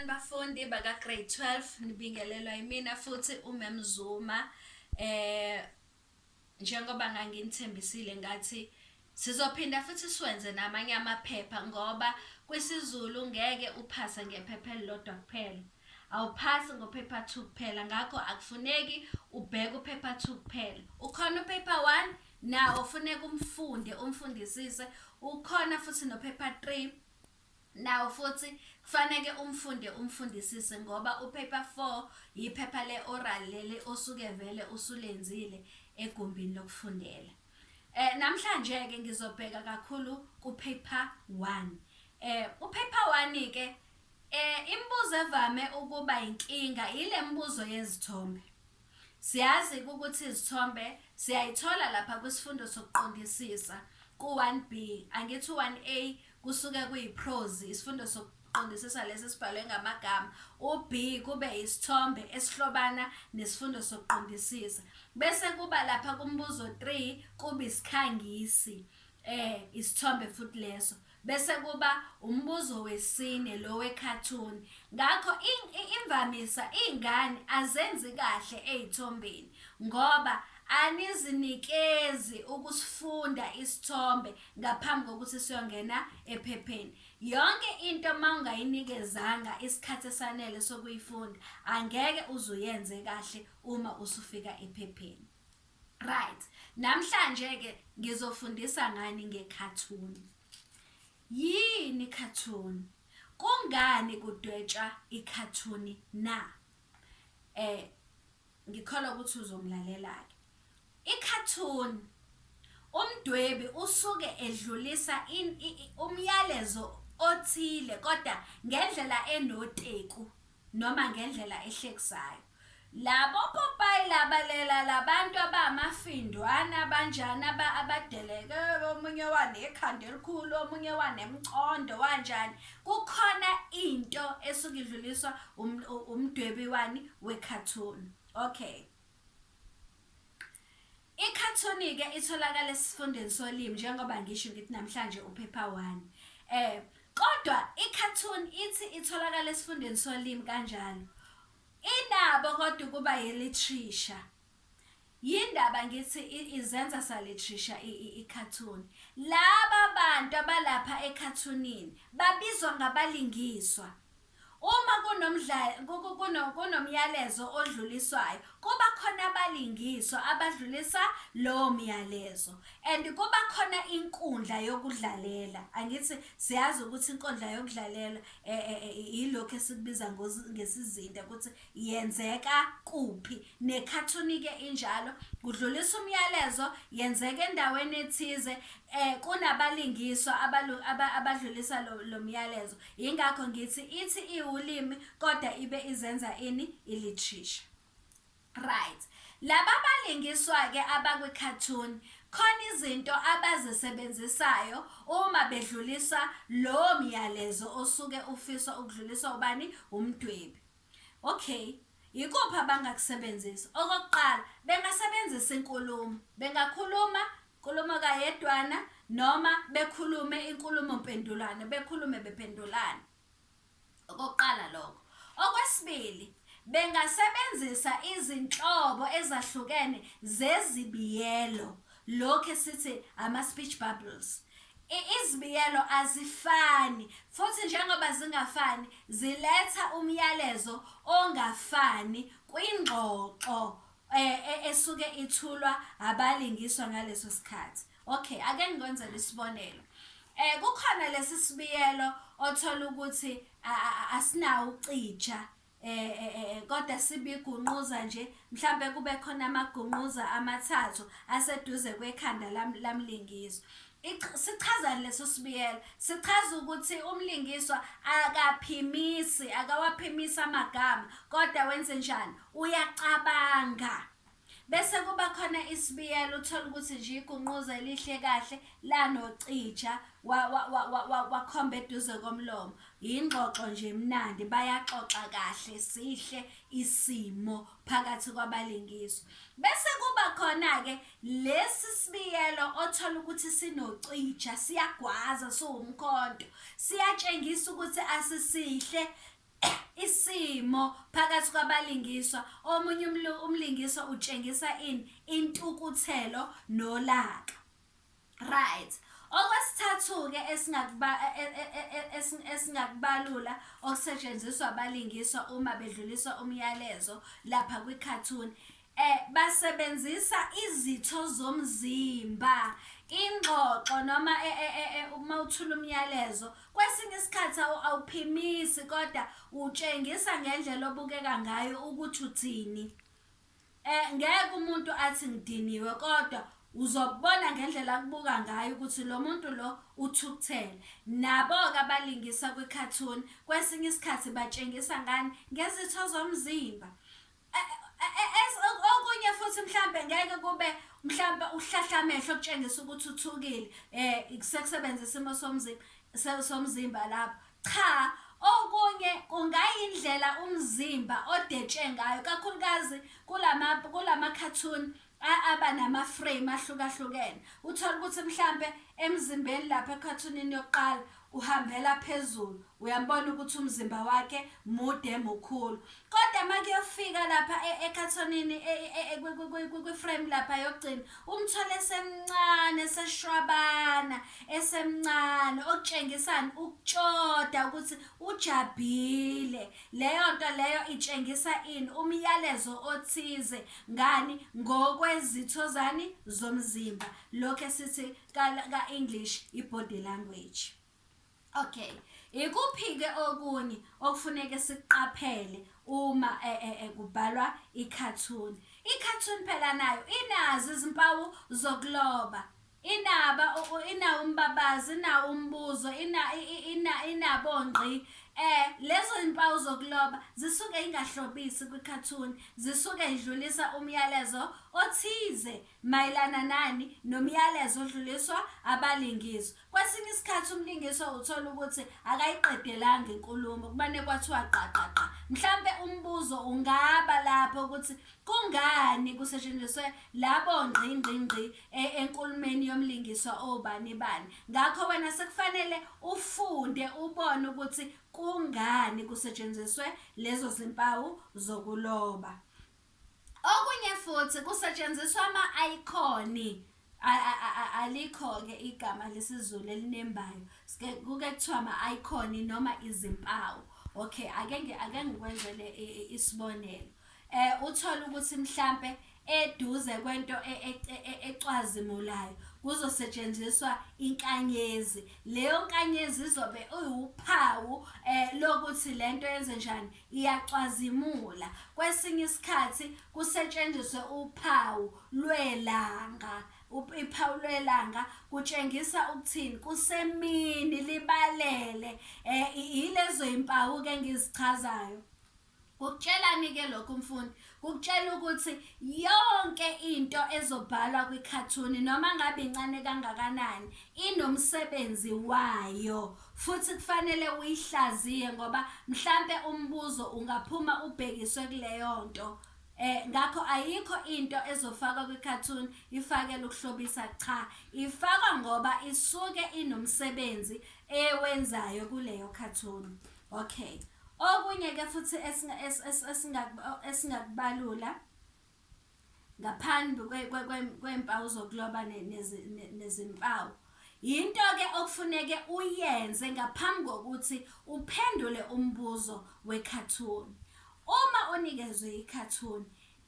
Bafundi baka grade 12 nibingelelwa yimina futhi uMem Zuma eh njengoba nganginithembisile ngathi sizophinda futhi siwenze namanye amaphepha ngoba kwisiZulu ngeke uphase ngephepha elilodwa kuphela awuphasi ngophepha 2 kuphela ngakho akufuneki ubheke uphepha 2 kuphela ukhona uphepha 1 nawo ufuneka umfunde umfundisise ukhona futhi nophepha 3 Nawo futhi kufaneke umfunde umfundisise ngoba uPaper Four yiphepha le-oral leli osuke vele usulenzile egumbini lokufundela. Eh, namhlanje-ke ngizobheka kakhulu kuPaper One. Eh, uPaper One-ke eh, imibuzo evame ukuba yinkinga yile mibuzo yezithombe. Siyazi-ke ukuthi izithombe siyayithola lapha kwisifundo sokuqondisisa, ku-1B, angithi u-1A kusuke kuyiphrozi, isifundo sokuqondisisa lesi esibhalwe ngamagama, u-B kube yisithombe esihlobana nesifundo sokuqondisisa. Bese kuba lapha kumbuzo 3 kube isikhangisi, eh, isithombe futhi leso. Bese kuba umbuzo wesine lo wekhathuni. Ngakho imvamisa iy'ngane azenzi kahle ey'thombeni ngoba anizinikezi ukusifunda isithombe ngaphambi kokuthi siyongena ephepheni. Yonke into uma ungayinikezanga isikhathi esanele sokuyifunda, angeke uze uyenze kahle uma usufika ephepheni. Right. Namhlanje ke ngizofundisa ngani ngekhathun. Yini khathun? Kungani kudwetshwa ikhathun na? Eh ngikholwa ukuthi uzongilalela ke. Ikhathun umdwebi usuke edlulisa umyalezo othile kodwa ngendlela enoteku noma ngendlela ehlekisayo. Labo popayi laba lela labantu abamafindwana abanjani aba abadeleke omunye wanekhanda elikhulu omunye wanemcondo wanjani kukhona into esuke idluliswa um, umdwebi wani we cartoon okay Ikhathuni-ke itholakala esifundeni solimi njengoba ngisho ngithi namhlanje uphepha one. Eh, kodwa ikhathuni ithi itholakala esifundeni solimi kanjalo. Inabo kodwa ukuba yelitrisha. Yindaba ngithi izenza salitrisha ikhathuni. Laba bantu abalapha ekhathunini babizwa ngabalingiswa. Uma kunomyalezo odluliswayo kuba khona abalingiswa abadlulisa lowo myalezo and kuba khona inkundla yokudlalela. Angithi siyazi ukuthi inkundla yokudlalela ilokhu esikubiza ngesizinda ukuthi yenzeka kuphi nekhathuni ke injalo kudlulisa umyalezo yenzeka endaweni ethize eh kunabalingiswa abadlulisa lo myalezo ingakho ngithi ithi iwulimi kodwa ibe izenza ini ilitrisha right laba balingiswa ke abakwi cartoon khona izinto abazisebenzisayo uma bedlulisa lo myalezo osuke ufiswa ukudluliswa ubani umdwebi Okay, yikuphi abangakusebenzisa? Okokuqala, bengasebenzisa inkulumo. Bengakhuluma inkulumo kayedwana noma bekhulume inkulumo mpendulwano, bekhulume bependulane. Okokuqala lokho. Okwesibili, bengasebenzisa izinhlobo ezahlukene zezibiyelo Lokhu esithi ama-speech bubbles izibiyelo azifani futhi njengoba zingafani ziletha umyalezo ongafani kwingxoxo eh, eh, esuke ithulwa abalingiswa ngaleso sikhathi okay ake ngikwenzele isibonelo eh kukhona lesi sibiyelo othola ukuthi asinawo ucija Eh, eh, eh, eh, kodwa sibigunquza nje mhlampe kube khona amagunquza amathathu aseduze kwekhanda lamlingiswa sichazani leso sibiyela sichaza ukuthi umlingiswa akaphimisi akawaphimisi amagama kodwa wenze njani uyacabanga Bese kuba khona isibiyelo uthole ukuthi nje igunquza elihle kahle lanocija wakhomba eduze komlomo yingxoxo nje emnandi bayaxoxa kahle sihle isimo phakathi kwabalingiswa bese kuba khona-ke lesi sibiyelo othola ukuthi sinocija siyagwaza siwumkhonto siyatshengisa ukuthi asisihle Isimo phakathi kwabalingiswa, omunye umlingiswa utshengisa ini? Intukuthelo nolaka. Right. Okwesithathu-ke esingakubalula okusetshenziswa abalingiswa uma bedlulisa umyalezo lapha kwikhathuni, Basebenzisa izitho zomzimba, ingxoxo noma uma uthula umyalezo. Kwesinye isikhathi awuphimisi kodwa utshengisa ngendlela obukeka ngayo ukuthi uthini. Ngeke umuntu athi ngidiniwe kodwa uzokubona ngendlela akubuka ngayo ukuthi lo muntu lo uthukuthele. Nabo-ke abalingisa kwikhathuni kwesinye isikhathi batshengisa ngani, ngezitho zomzimba. okunye futhi mhlambe ngeke kube mhlambe uhlahla amehlo okutshengisa ukuthi uthukile um sekusebenza isimo somzimba somzimba lapho cha okunye kungayindlela umzimba odetshe ngayo kakhulukazi kulama kula makhathuni aba nama-frame ahlukahlukene uthole ukuthi mhlampe emzimbeni lapha ekhathunini yokuqala uhambela phezulu uyambona ukuthi umzimba wakhe mude mukhulu kodwa uma kuyofika lapha e, ekhathonini e, e, kwi-frame lapha yokugcina umthole esemncane eseshwabana esemncane okutshengisani ukutshoda ukuthi ujabhile leyo nto leyo itshengisa ini umyalezo othize Ngani? Ngokwezitho zani? Zomzimba. Lokhu esithi ka-English i-body language. Okay. Ikuphi-ke okunye okufuneke sikuqaphele uma e, e, e, kubhalwa ikhathuni? Ikhathuni phela nayo inazo izimpawu zokuloba. Inaba u, u, ina umbabazi, ina umbuzo, ina, i, i, ina, inabo ngqi. E, lezo impawu zokuloba zisuke ingahlobisi kwikhathuni, zisuke idlulisa umyalezo othize mayelana nani nomyalezo odluliswa abalingiswa. Kwesinye isikhathi umlingiswa uthola ukuthi akayiqedelanga inkulumo, kumane kwathiwa gqa gqa gqa. Mhlampe umbuzo ungaba lapho ukuthi kungani kusetshenziswe labo ngqi ngqi ngqi e, enkulumeni yomlingiswa obani bani ngakho wena sekufanele ufunde ubone ukuthi kungani kusetshenziswe lezo zimpawu zokuloba okunye futhi kusetshenziswa ama-ayikoni alikho-ke igama lesizulu elinembayo kuke kuthiwa ama-ayikoni noma izimpawu okay ake ake ngikwenzele isibonelo um uthole ukuthi mhlampe eduze kwento e, e, e, ecwazimulayo kuzosetshenziswa inkanyezi leyo nkanyezi izobe iwuphawu um lokuthi le nto yenze njani iyacwazimula kwesinye isikhathi kusetshenziswe uphawu lwelanga iphawu lwelanga kutshengisa ukuthini kusemini libalele um yilezo y'mpawu-ke engizichazayo Kukutshelani-ke lokhu mfundi? Kukutshela ukuthi yonke into ezobhalwa kwikhathuni noma ngabe incane kangakanani inomsebenzi wayo futhi kufanele uyihlaziye ngoba mhlampe umbuzo ungaphuma ubhekiswe kuleyo nto. Eh ngakho ayikho into ezofakwa kwi-cartoon ifakela ukuhlobisa cha ifakwa ngoba isuke inomsebenzi ewenzayo kuleyo cartoon. Okay. Okunye ke futhi esingakubalula ngaphambi kweempawu zokuloba nezimpawu yinto ke okufuneke uyenze ngaphambi kokuthi uphendule umbuzo wekhathuni uma unikezwe ikhathuni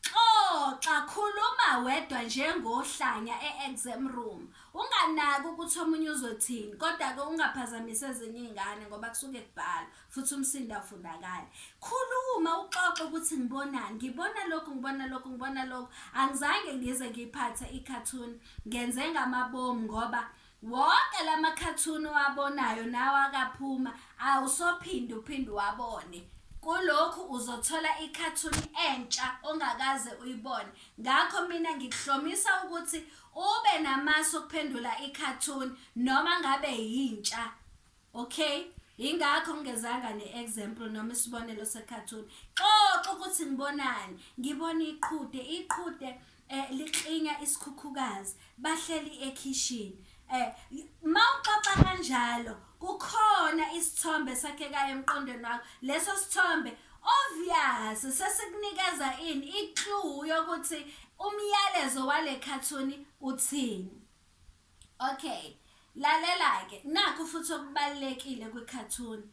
Xoxa, khuluma wedwa njengohlanya e-exam room. Unganaki ukuthi omunye uzothini, kodwa-ke ungaphazamisi ezinye iy'ngane ngoba kusuke kubhalwa futhi umsindo awufundakali. Khuluma uxoxe ukuthi ngibonani, ngibona lokhu, ngibona lokhu, ngibona lokhu. Angizange ngize ngiyiphathe ikhathuni, ngenze ngamabomu ngoba Wonke lama cartoon owabonayo nawe akaphuma awusophinde uphinde uwabone. Kulokhu uzothola i cartoon entsha ongakaze uyibone. Ngakho mina ngikuhlomisa ukuthi ube namasu okuphendula i cartoon noma ngabe yintsha. Ok, yingakho ngingezanga ne-example noma isibonelo se-cartoon. Xoxa ukuthi ngibonani. Ngibona iqhude, iqhude eh liklinya isikhukhukazi. Bahleli ekhishini. Eh mawuxoxa kanjalo kukhona isithombe sakheka emqondweni wakho. Leso sithombe obvious sesikunikeza ini i-clue yokuthi umyalezo wale cartoon uthini. Okay. Lalela ke nakho futhi okubalekile kwi cartoon.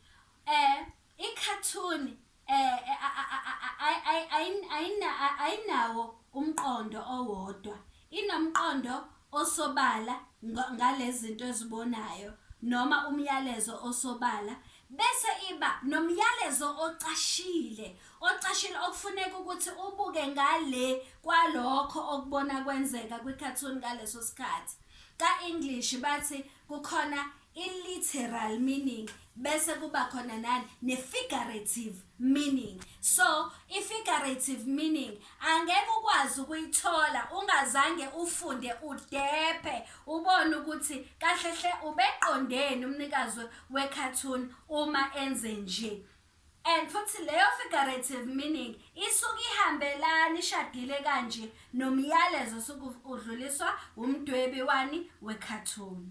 Eh i cartoon eh ayinawo umqondo owodwa. Inomqondo osobala ngalezinto ezibonayo noma umyalezo osobala Bese iba nomyalezo ocashile, ocashile okufuneka ukuthi ubuke ngale kwalokho okubona kwenzeka kwi-cartoon ngaleso sikhathi. Ka-English bathi kukhona i-literal meaning bese kuba khona nani ne-figurative meaning so i-figurative meaning Angeke ukwazi ukuyithola ungazange ufunde udephe ubone ukuthi kahle hle ubeqondeni umnikazi we-cartoon uma enze nje. And futhi leyo figurative meaning isuke ihambelani ishadile kanje nomyalezo osuke udluliswa umdwebi wani we-cartoon.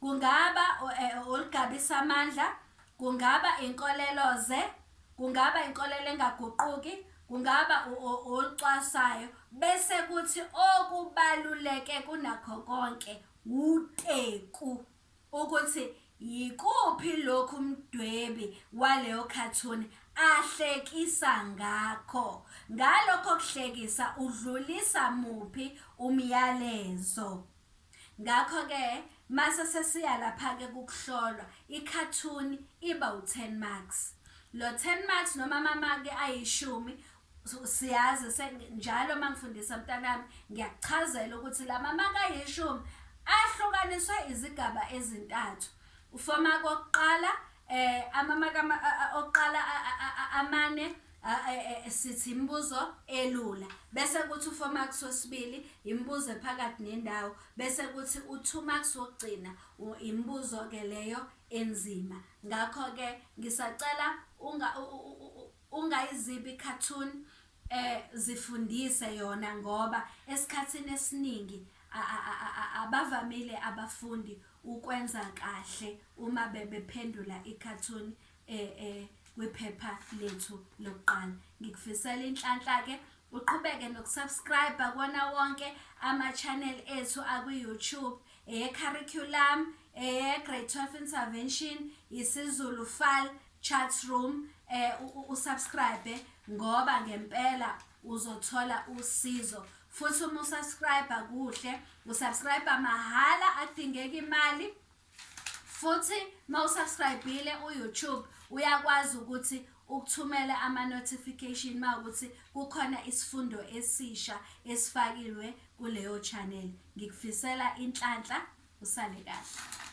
Kungaba eh, olugabisa amandla, kungaba inkoleloze, kungaba inkolelo engaguquki, kungaba olucwasayo bese kuthi okubaluleke kunakho konke wuteku ukuthi yikuphi lokhu umdwebi waleyo cartoon ahlekisa ngakho ngalokho kuhlekisa udlulisa muphi umyalezo Ngakho-ke mase sesiya lapha-ke kukuhlolwa, ikhathuni iba u-ten marks. Lo ten marks noma amamaki ayishumi siyazi se njalo uma ngifundisa mntanami ngiyakuchazela ukuthi la mamaki ayishumi ahlukaniswe izigaba ezintathu ufomaki wokuqala eh amamaki okuqala amane A, e, e, sithi imibuzo elula bese kuthi u-four marks wesibili imibuzo ephakathi nendawo bese kuthi u-two marks wokugcina u- imibuzo-ke leyo enzima ngakho-ke ngisacela unga- u- u- u- u- ungayizibi i-cartoon um zifundise yona ngoba esikhathini esiningi a- a- a- a- a- abavamile abafundi ukwenza kahle uma bebephendula i-cartoon eh, eh, kwiphepha lethu lokuqala ngikufisela inhlanhla-ke uqhubeke nokusubscribe kona wonke ama-channel ethu akwi-youtube eye-curriculum eye-grade 12 intervention isizulu fal chat room eh usubscribe ngoba ngempela uzothola usizo futhi uma usubscribe kuhle usubscribe mahhala akudingeki imali futhi uma usubscribile uyoutube uyakwazi ukuthi ukuthumela ama-notification uma ukuthi kukhona isifundo esisha esifakilwe kuleyo channel ngikufisela inhlanhla usale kahle